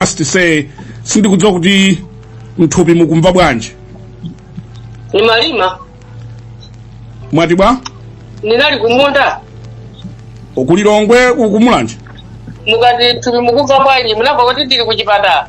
Just to say sindikudziwa kuti mthupi mukumva bwanji ni maliro mwati bwa ndinali kumunda kuLilongwe kuMulanje mukati mthupi mukumva bwanji munamva kuti ndili kuchipatala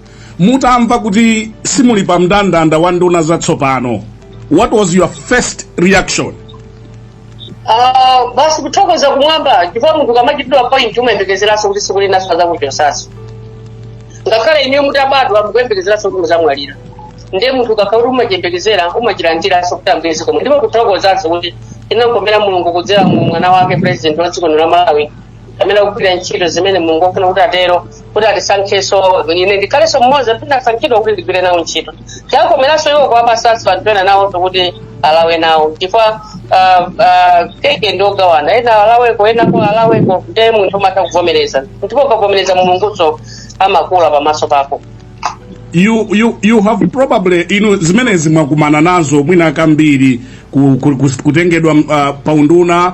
mutamva kuti simuli pa mndandanda wa nduna zatsopano what was your first reaction Ah, basi kuthokoza kumwamba chifukwa munthu akamachitidwa appoint umayembekezeranso kuti tsiku lina adzakuchotsanso ngakhale inuyo mutabadwa mukuyembekezeranso kuti muzamwalira ndiye munthu ukakhala kuti umachiyembekezera umachilandiranso kuti ambuye zikomo ndipo kuthokozanso kuti inankomera mulungu kudzera mu mwana wake president wa dziko lino la malawi amene akugwira ntchito zimene mulungu akufuna kuti atero kuti atisankhenso ine ndikhalenso mmodzi amene ndasankhidwa kuti ndigwire nawo ntchito chakomeranso iwo kuwapasanso anthu ena nawonso kuti alawe nawo chifukwa ah, ah, keke ndi ogawana ena alaweko enako alaweko ndiye munthu umatha kuvomereza ndipo ukavomereza mulungunso amakuwala pamaso pako you, you, you have probably inu zimenezi mwakumana nazo mwina kambiri ku, ku, ku, kutengedwa uh, paunduna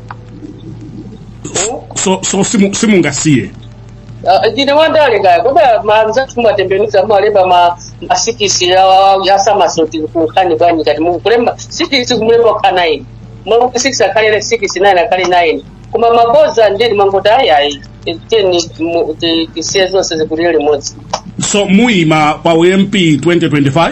so, so simu- simungasiye Ah, ndine wandale kaya kodi manzathu mumatembenuza mumalemba ma masikisi asamasoti kukhani bwanji kati mukulemba sikisi kumulemba kukhala nine mwakuti sikisi akhale sikisi nine akhale nine koma mabodza ndiye mangoti ayi ayi teni mu- ti- tisiye zonse zikupitire limodzi so muyima pa ump 2025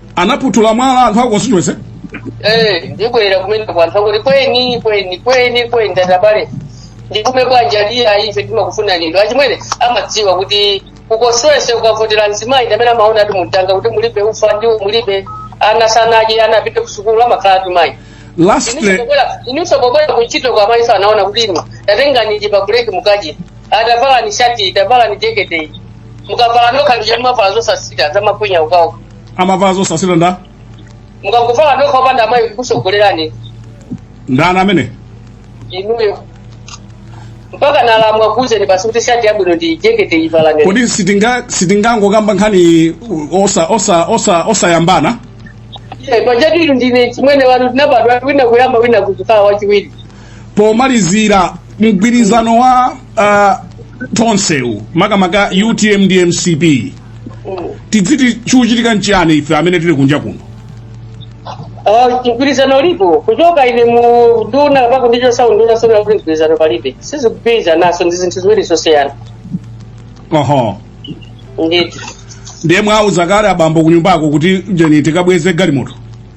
anaputula mwala anthu a constituency Eh, ndibwera kumene kwa anthu akuti kweni kweni kweni kweni tatabale ndikume bwanja liya ife timakufuna lindo achimwene amadziwa kuti kuponsepo ukavotera mzimayi ndamene amaona mu mtanga kuti mulibe ufa ndiwo mulibe ana sanadye ana apite kusukulu amakhala atumayi lastly ininso pobwera kuntchito amayiso amaona kuti inu tatengani ichi pa break mukadye tavalani shati iyi tavalani jekete iyi mukavala nokha ndicho timavala zosasita zamakwinya nokha amavala zosasita nde mukavala nokha opanda amayi kukusogolerani ndani amene inuyo mpaka alamu akuuzeni basi kuti shati yabwino ndi jekete iyi valani kodi sitinga sitingangokamba nkhani osa osa osa osayambana pajatu inu ndine mchimwene wanu tinabadwa wina kuyamba wina kudzakhala wachiwiri pomalizira mgwirizano wa uh, tonsewu makamaka UTM ndi MCP tidziti chikuchitika nchiyani ife amene tili kunja kuno Uh, mgwirizano ulipo kuchoka ine mu nduna pa udindo wa unduna sikuti mgwirizano palibe sizikugwirizanaso ndi zinthu ziwiri zosiyana oho ndithu ndiye mwauza kale abambo kunyumbako kuti tiyeni tikabweze galimoto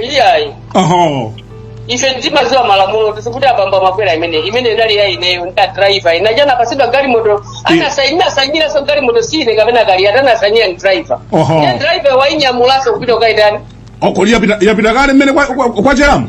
iyayi oho ife ndimaziwa malamulo osati kuti abambo amakwera imene imene ndinali ya ineyo ndi adraiva ine achana pasidwa galimoto anasainyiranso galimoto siine kapena kali ati anasainira ndi driver Oho. ndiye driver wainyamulaso kupita kukaitana uko yapita yapita kale mmene kwa- kwa- kwacheramu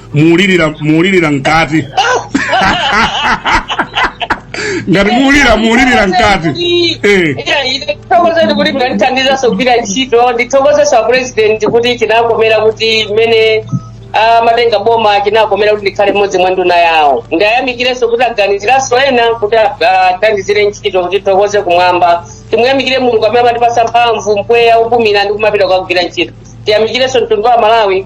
muulirira muulirira mkati ngati muulira muulirira mkati eh. ndithokoze ndi kuti mnandithandizaso kugwira ntchito ndithokozeso a president kuti chinakomera kuti mmene amatenga boma chinakomera kuti ndikhale mmodzi mwa nduna yawo ndiyamikireso kuti aganiziraso ena kuti athandizire ntchito kuti tithokoze kumwamba timuyamikire mulungu amene amandipasa mphamvu mpweya opumira ndi kumapita kukagwira ntchito tiyamikireso mtundu wa malawi